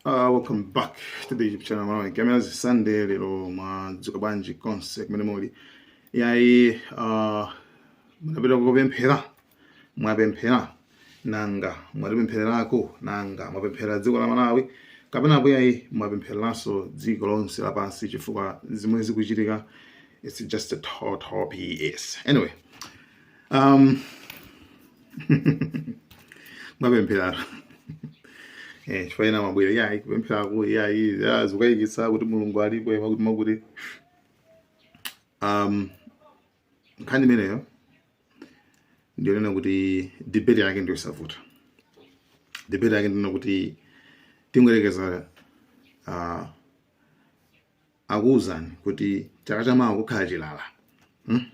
Uh, welcome back to the YouTube channel Amalawi Kamera ndi Sunday lero mwadzuka bwanji konse kumene muli yayi uh, munapita kupemphera mwapemphera nanga mwatipemphererako nanga mwapempherera dziko la Malawi kapenapo yayi mwapemphereranso dziko lonse lapansi chifukwa zimene zikuchitika it's just a total BS anyway um, mwapemphera eh, chifukwa ena amabwera yayi kupempherako iyayi ya, zikukayikitsa kuti mulungu alipo ya, amakuti amakuti um, nkhani imeneyo ndi yonena kuti debate yake ndi yosavuta debate yake ndi yonena kuti tingoyerekeza uh, akuuzani kuti chaka chamawa kukhala chilala hmm?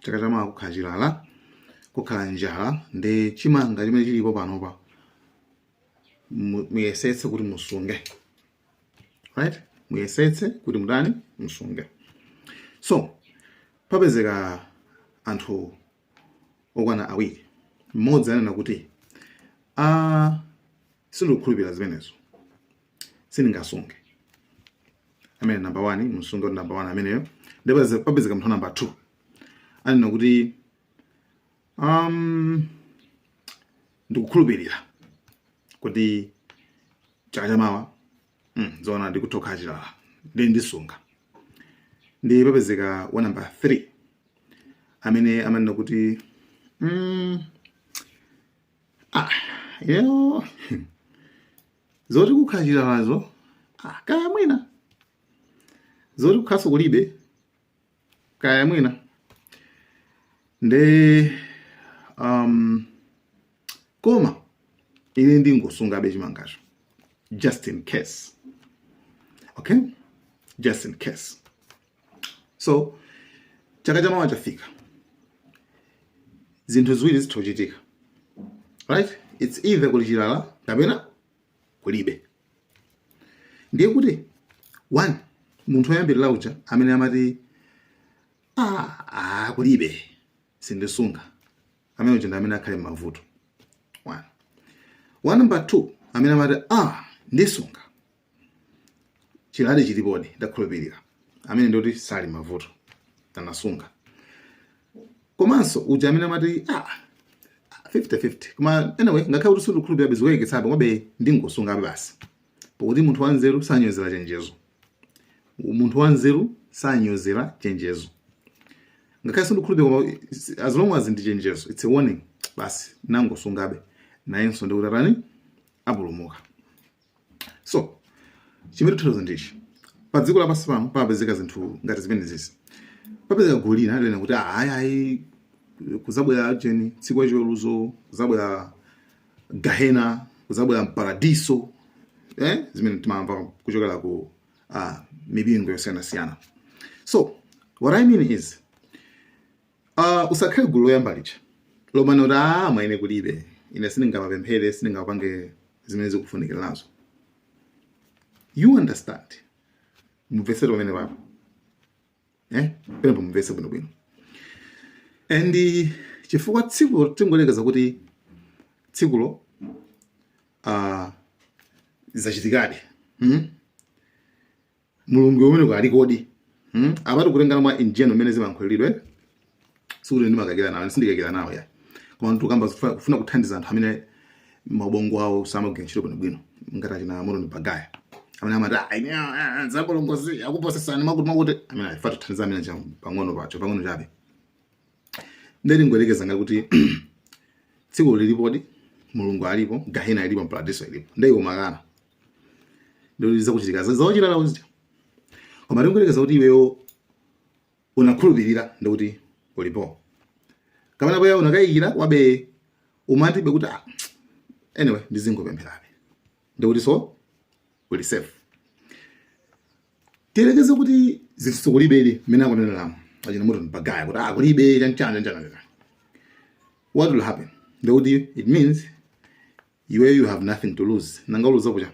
chaka chamawa kukhala chilala kukhala njala nde chimanga chimene chilipo panopa muyesetse kuti musunge right muyesetse kuti mutani musunge so papezeka anthu okwana awiri mmodzi anena kuti a sindikukhulupirira zimenezo sindingasunge ameneyo namba 1 mumusunge kuti namba 1 ameneyo ndipo papezeka munthu namba 2 anena kuti um, ndikukhulupirira kuti chaka chamawa mm, zoona ndi kutha kukhala chilala nde ndisunga nde papezeka wa namba 3 amene amanena kuti mm, ah, ineyo zoti kukhala chilalazo ah, kaya mwina zoti kukhalanso kulibe kaya mwina nde um, koma ine ndingosungabe chimangacho just in case okay just in case so chaka chamawa chafika zinthu ziwiri zitha kuchitika right it's either kuli chilala kapena kulibe ndiye kuti one munthu oyambirira uja amene amati ah, ah, kulibe sindisunga amene uja ndi amene akhale m'mavuto one one number two amene amati ah, ndisunga chilala chilipodi ndakhulupirira ameneyo ndi kuti sali m'mavuto anasunga komanso uja amene amati ah, 50-50 koma anyway ngakhale kuti sindikukhulupirirabe zikukayikitsabe komabe ndingosungabe basi pakuti munthu wanzeru sanyozera chenjezo munthu wanzeru sanyozera chenjezo ngakhale sindikukhulupirira as long as ndi chenjezo it's a warning basi nangosungabe nayenso ndi kuti atani apulumuka so chimene tikuuza ndichi pa dziko lapansi pano papezeka zinthu ngati zimenezizi papezeka gulu lina lina kuti "Ah, ayi ayi kuzabwera jeni tsiku lachiweruzo kuzabwera gahena kuzabwera mparadiso eh? zimene timamva kuchokera ku ah, mipingo yosiyanasiyana so what i mean is Uh, usakhale gulu loyamba lija lomanena kuti aa mwa ine kulibe ine sindingamapemphere sindingapange zimene zikufunikira nazo you understand mumvetsetse pamene papo eh penepo mumvetse bwinobwino and eh, chifukwa tsikulo tingoyerekeza kuti tsikulo uh, zachitikadi hmm? mulungu umene alikodi hmm? apatu kulingana mwa injeno imene zimayankhulidwira sikuti ndimakakira nawo sindikakira nawo ya koma ndikukamba kufuna kuthandiza anthu amene mabongo awo samagwira ntchito bwino bwino ngati achina moto ni mbagaya amene amati ah, ine ah, ah, ah, zabolongozi akuposesani makuti makuti amene afa tithandiza amene cha pang'ono pacho pang'ono chabe nde tingoyerekeza ngati kuti tsiku lilipodi mulungu alipo gahena ilipo mparadiso ilipo nde iwe ukukana Ndikuti zakuchitika za wachilala uja. Koma tingoyerekeza kuti iweyo unakhulupirira ndikuti ulipo. Kapena bwanji unakayikira komabe umatibe kuti ah, anyway ndizingopempherabe. Ndikuti so uli safe. Tiyerekeze kuti zinthuzi kulibedi mmene akuneneramo achina moto mbagaya kuti ah kulibe chanchana chanchana. What will happen? Ndikuti it means iweyo you have nothing to lose nanga uluzapo cha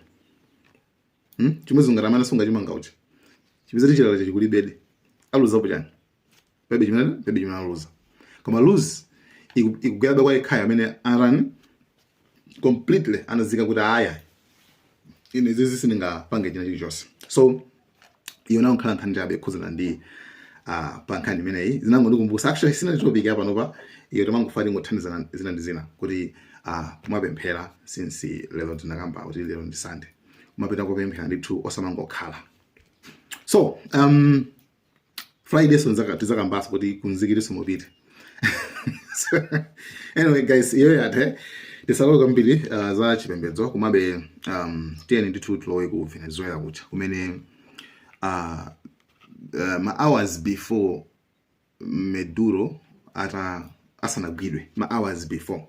hmm? chimodzimodzi ngati amene anasunga chimanga uja zipezeka kuti chilala chake kulibedi aluzapo chani palibe chimene palibe chimene aluza koma lose ikugwerabe kwa yekhayo amene atani completely anadziika kuti aya ine izizi sindingapange china chilichonse so iyo inangokhala nkhani chabe yokhudzana ndi uh, pa nkhani imeneyi zinangondikumbutsa actually si inali topic ya panopa iyo timangofuna tingothandizana zina ndi zina kuti uh, kumapemphera since lero tinakamba kuti lero ndi sunday kumapita kopemphera ndithu osamangokhala so um, friday so tizakambaso kuti kunzikiti so mupite so, anyway guys iyo yathe tisalowe kwambiri uh, za chipembedzo komabe um, tiyeni ndithu tilowe ku venezuela kuja kumene uh, uh, ma hours before maduro ata asanagwidwe ma hours before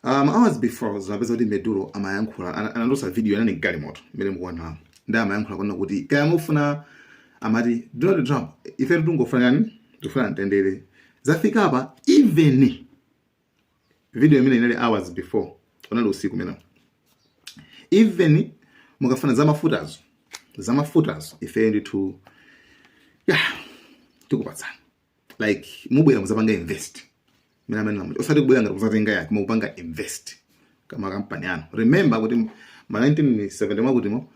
uh, ma hours before zinapeza kuti Maduro amayankhula ana- anatulutsa video yonani galimoto imene mukuonamo ndi amayankhula kunena kuti kaya mufuna amati donald trump ife tikungofuna yani tifuna mtendere zafika apa even video imene inali hours before unali usiku umene even mukafuna zamafutazo zamafutazo ife ndithu ya tikupatsani like mubwere muzapanga invest mina amene namuti osati kubwera ngati kuzatenga yake koma kupanga invest kaya makampani anu remember kuti ma 1970 mwakutimo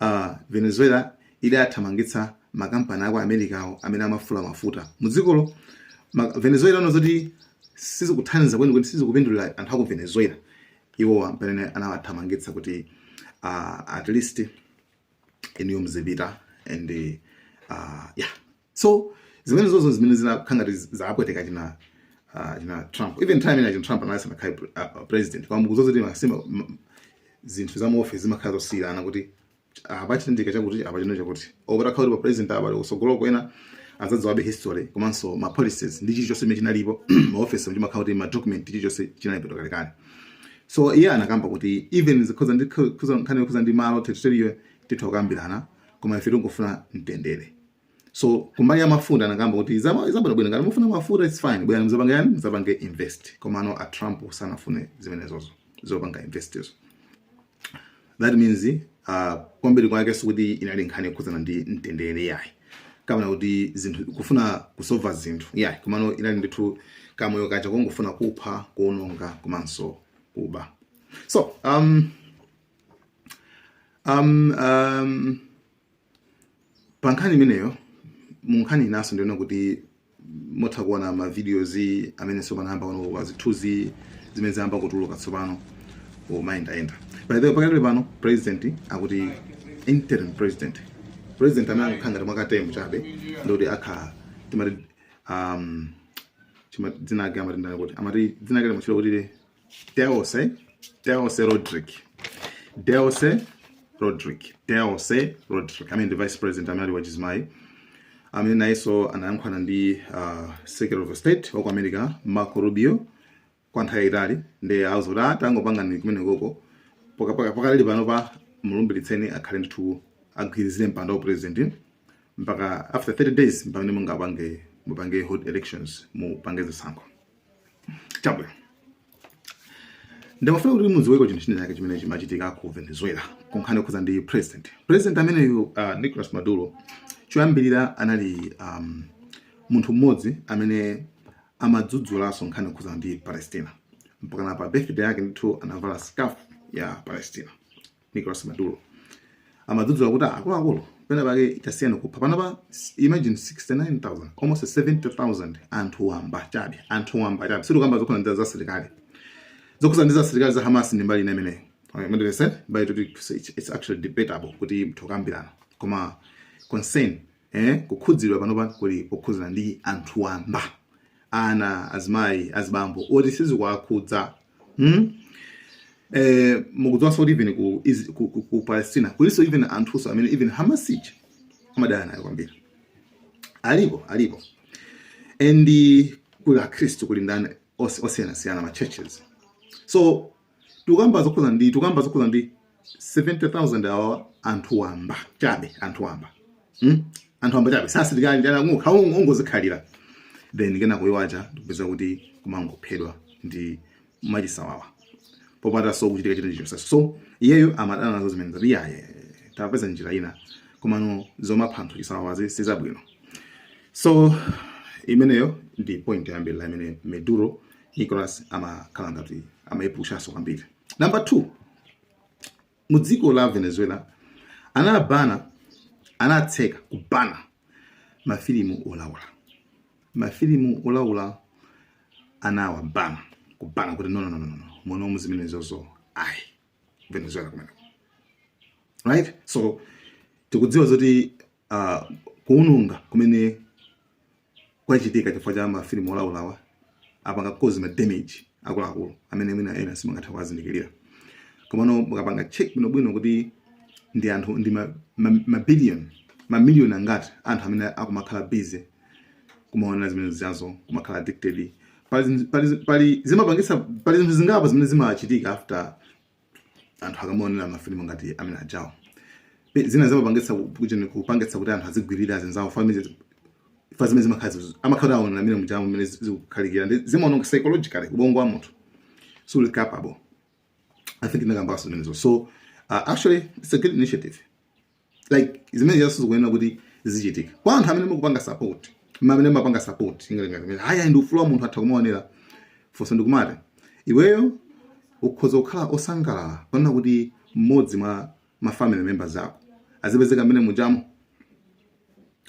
uh, venezuela idathamangitsa makampani aku america awo amene amafula mafuta mudzikolo ma, venezuela inaona zoti sizikuthandiza kwenikweni sizikupindulira anthu aku venezuela iwo amene anawathamangitsa kuti uh, at least inuyo mzipita and uh, yeah so zimenezozo zimene zinakhala ngati zapweteka china uh, china Trump even time ina china Trump anali asanakhale pre- uh, uh, president koma mukudziwa zoti nthawi zina m- zinthu za mu office zimakhala zosiyana kuti apa chitendeka chakuti apa chino chakuti obera khawuli pa president apa utsogolo kwena azadziwabe history komanso ma policies ndi chilichonse chimene chinalipo ma office mtima khawuti ma document chilichonse chinalipo kalekale so iye anakamba kuti even zikhoza ndi kho- khoza- nkhani yokhudza ndi malo territory titha kukambirana koma ife tingofuna mtendere so kumbali ya mafuta anakamba kuti zama- zabwino bwino ngati mufuna mafuta its fine bwerani muzapange chani muzapange invest komano a trump sanafune zimenezozo zopanga investizo that means uh, kwambiri kwake sikuti inali nkhani yokhudzana ndi mtendere yayi kapena kuti zinthu kufuna kusova zinthu yayi komano inali ndithu kamoyo kaja kongofuna kupha kuononga komanso kuba so um, um, um, pa nkhani imeneyo mu nkhani inanso ndiona kuti mutha kuona ma videos amene tsopano ayamba kuoneka zithunzi zimene zayamba kutuluka tsopano kumayendayenda by the way pakadali pano president akuti interim president president amene akukhala ngati mwakatemu chabe ndikuti akhala timati um, chima- dzina lake amati ndani kuti amati dzina lake limatchulidwa kuti Delcy, Delcy Rodríguez, Delcy Rodríguez, Delcy Rodríguez, amene ndi vice president amene ali wachizimayi amene nayenso anayankhulana ndi uh, secretary of state wa ku america marco rubio kwa nthawi yayitali ndiye auzidwa kuti tangopangani kumenekoko pakadali pano pa mulumbilitseni akhale ndithu agwirizire mpando wa president mpaka after 30 days mpamene mungapange mupange hold elections mupange zisankho chabwino ndimafuna kuti mudziweko chinthu china chake chimene chimachitika ku venezuela kunkhani yokhuza ndi president president ameneyu uh, nicolas maduro choyambirira anali um, munthu mmodzi amene amadzudzulanso nkhani yokhuza ndi palestina mpakana pa birthday yake ndithu anavala scarf ya palestina Nicolas Maduro amadzudzula kuti akuluakulu pena pake tasiyani kupha panapa imagine 69000 almost 70000 anthu wamba chabe anthu wamba chabe sitikamba zokhana ndi za silikali zokhuzana ndi za silikali za Hamas ndi mbali ina imeneyo it's actually debatable kuti mutha kukambirana koma concern eh, kukhudzidwa panopa kuli kokhudzana ndi anthu wamba ana azimayi azibambo oti sizikuwakhudza hmm? eh, mukudziwanso kuti even ku, Is- ku, ku, ku palestina kulinso even anthunso amene even hamas ija amadana nayo kwambiri alipo alipo and kuli akhristu kuli ndani os- osiyanasiyana ma churches so tukamba zokhudzana ndi tikukamba zokhudzana ndi 70000 awa anthu wamba chabe anthu wamba hmm? anthu wamba chabe si asilikali ndi ana ungozikhalira then kena kuyiwacha ndikupeza kuti kumangophedwa ndi mwachisawawa popanda so kuchitika chilichonse so iyeyo amadana nazo zimenezo kuti ayi tapezani njira ina komano zomapha anthu chisawawazi sizabwino so imeneyo ndi point yoyambirira imene maduro Nicholas amakhala ngati amayipushanso kwambiri. Number 2 mu dziko la Venezuela anawabana anatseka kubana mafilimu olaula mafilimu olaula anawabana kubana kuti no no no no no muno zimenezozo ayi Venezuela kumene right so tikudziwa zoti uh, kuwononga kumene kwachitika chifukwa cha mafilimu olaulawa apanga cause ma damage akuluakulu amene mwina ena samatha kuwazindikira komano mukapanga check bwinobwino kuti ndi anthu ndi mabiliyoni ma, ma mamiliyoni angati anthu amene akumakhala busy kumaonera zimene zijazo kumakhala addicted pali zimapangisa pali zinthu zingapo zimene zimachitika after anthu akamaonera mafilimu ngati amene ajawo zina zimapangitsa kuchene kupangitsa kuti anthu azigwirira zinzawo families fa zimene zimakhala amakhala akuonera mmene mujamu mmene zikukhalikira ndi zimaononga psychologically ubongo wa munthu so uli capable i think ndinakambanso zimenezo so uh, actually it's a good initiative like zimenezonso zikuyenera kuti zichitike kwa anthu amene mukupanga support amene amapanga support kuti ayi ndi ufulu wa munthu atha kumaonera funso ndikumati iweyo ukhoza kukhala osangalala kuona kuti mmodzi mwa ma family members ako azipezeka mmene mujamo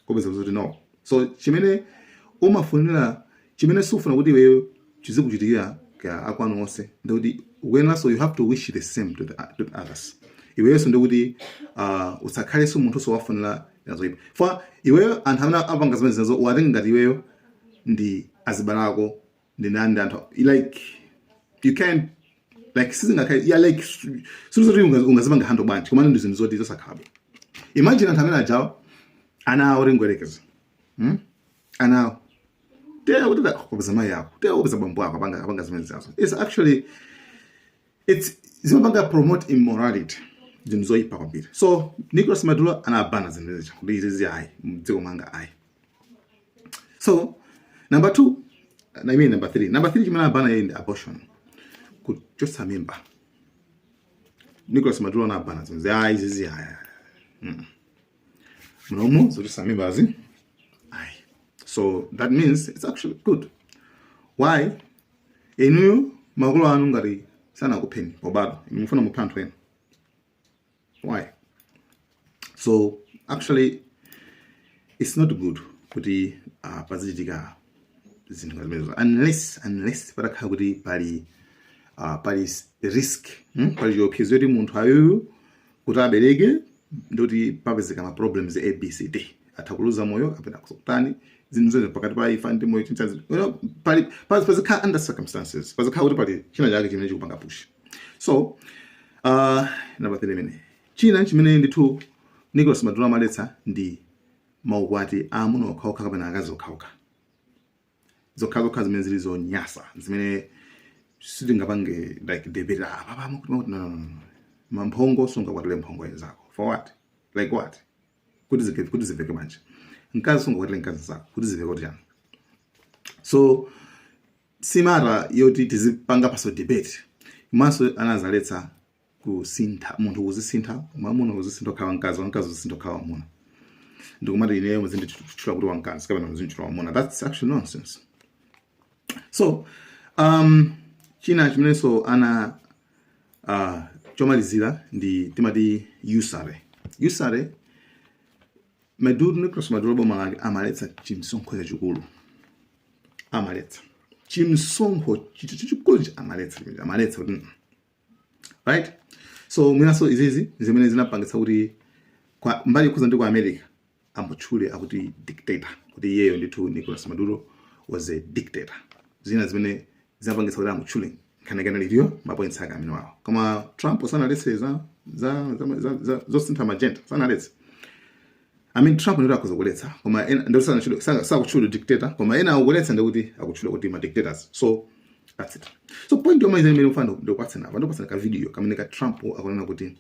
ukupeza kuti no so chimene umafunira chimene sufuna kuti iweyo chizikuchitikira akwanu onse ndikuti ukuyeneranso you have to wish the same to the, to the others iweyenso ndikuti uh, usakhalenso munthu sowafunira zoipa for iweyo anthu amene apanga zimene zinazo uwatenga ngati iweyo ndi azibale ako ndinani ndi anthu like you can like sizingakhale ya like sizoti ungazipanga hando bwanji komano ndi zinthu zoti zosakhalapo imagine anthu amene ajawa ana awo tingoyerekeza hmm? ana awo tera kuti kupeza mayi ako tera kupeza bambo ako apanga apanga zimene zazo it's actually it's zimapanga promote immorality zinthu zoyipa kwambiri so nicolas maduro anabana zinthu zija kuti izizi ayi mdziko mwanga ayi so number two I mean number three number three chimene anabana iyeyo ndi abortion kuchotsa mimba Nicholas Maduro anabana zonse ayi zizi ayi mm. m'momo zochotsa mimbazi ayi so that means it's actually good why inuyo makolo anu ngati sanakupheni pobadwa mufuna muphe anthu ena why so actually it's not good kuti uh, pazichitika zinthu ngati zimenezo unless unless patakhala kuti pali uh, pali s- risk hmm? pali chiopsezo choti munthu uyuyu kuti abereke ndiye kuti papezeka ma problems abcd atha kuluza moyo kapena kusakutani zinthu zonse pakati pa imfa ndi moyo chintazi you know, pali pazikhala under circumstances pazikhala kuti pali china chake chimene chikupanga push so uh, namba 3 imene china chimene ndithu Nicholas Maduro amaletsa ndi maukwati aamuna okhaokha kapena akazi okhaokha zokhazokha zimene zili zonyasa zimene sitingapange like debate ah, apa pamo kuti makuti no, no, no, no. mwamphongo sungakwatire mphongo nzako for what like what kuti zike kuti ziveke bwanji mkazi sungakwatire mkazi nzako kuti ziveke kuti chani so si matter yoti tizipangaponso debate komanso anazaletsa kusintha munthu kuzisintha mwamuna kuzisintha kukhala mkazi wamkazi kuzisintha kukhala wamuna ndikumati ineyo muzinditchula kuti wamkazi kapena muzinditchula wamuna that's actually nonsense so um, china chimenenso ana uh, chomalizira ndi timati usury usury Maduro Nicolas Maduro boma lake amaletsa chimsonkho chachikulu amaletsa chimsonkho chithu chachikulu amaletsa amaletsa kuti mm. right so mwinanso izizi zimene zinapangitsa kuti kwa mbali yokhuza ndi ku america amutchule kuti dictator kuti iyeyo ndithu nicolas maduro was a dictator zina zimene zinapangitsa kuti amutchule nkhani yake anali tiliwo mapoints ake amene wawo koma trump sanaletse za za- za- za- za- zosintha ma gender sanaletse I mean Trump ndiye akhoza kuletsa koma ena ndiye sana- sakutchula sa- sa- sakutchula dictator koma ena akuletsa ndi kuti akutchula kuti ma dictators so that's it so point yomwe imene mfuna ndikupatseni apa ndikupatseni ka video kamene ka Trump akunena kuti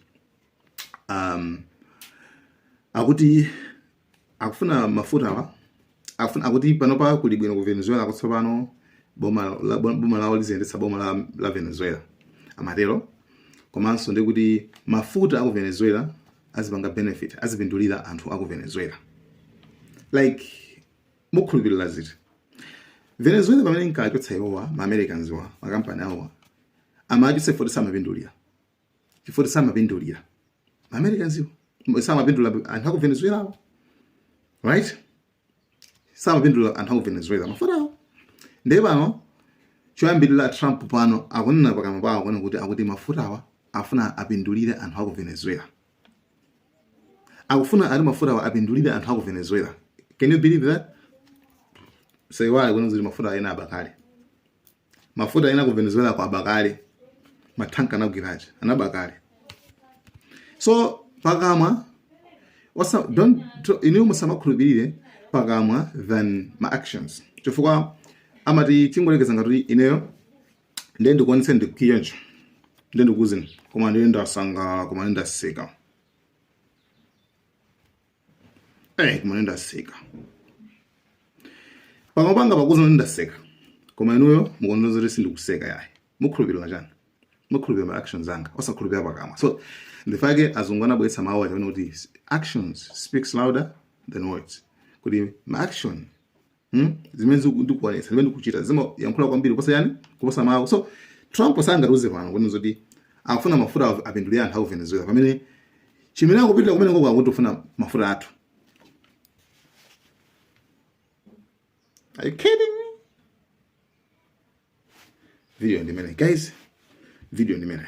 um akuti akufuna mafutawa akufuna akuti panopa kuli bwino ku venezuela kuti tsopano boma la- boma lawo liziyendetsa boma la, la venezuela amatero komanso ndi kuti mafuta aku venezuela azipanga benefit azipindulira anthu aku venezuela like mukhulupirira zoti venezuela pamene inkachotsa iwowa ma americans awa makampani awowa amachotsa chifukwa choti samapindulira chifukwa choti samapindulira Americans samapindula anthu aku Venezuela awo right samapindula anthu aku Venezuela mafuta awo ndiye pano choyambirira Trump pano akunena pakamwa pawo kuona kuti akuti mafutawa afuna apindulire anthu aku Venezuela akufuna ati mafutawa apindulire anthu aku Venezuela can you believe that saiwale kuona kuti mafuta ena anaba kale mafuta ena ku venezuela ko aba kale mathanka anagwira aja anaba kale so pakamwa osa don't to- inuyo musamakhulupirire pakamwa than ma actions chifukwa amati tingoyerekeza ngati ineyo ndiye ndikuonetse ndikukwiya ndiye ndikuuzeni koma ndiye ndasangalala koma ndiye ndaseka Eh, kumene ndaseka. Pakamwa panga pakukuuzani kuti ndaseka. Koma inuyo mukuona zoti sindikuseka yayi. Mukhulupirira chani? Mukhulupirira ma actions anga, osakhulupirira pakamwa. So, ndi chifukwa chake azungu anabweretsa mawu aja kuti actions speaks louder than words. Kuti ma action Hmm? zimene ndikuonetsa zimene ndikuchita zimayankhula kwambiri kuposa chani kuposa mawu so trump sangatiuze pano kuti zoti akufuna mafuta apindulire anthu aku venezuela pamene chimene akupitira kumene ko nkokokuti akufuna mafuta athu Are you kidding me? Video in a minute, guys. Video in a minute.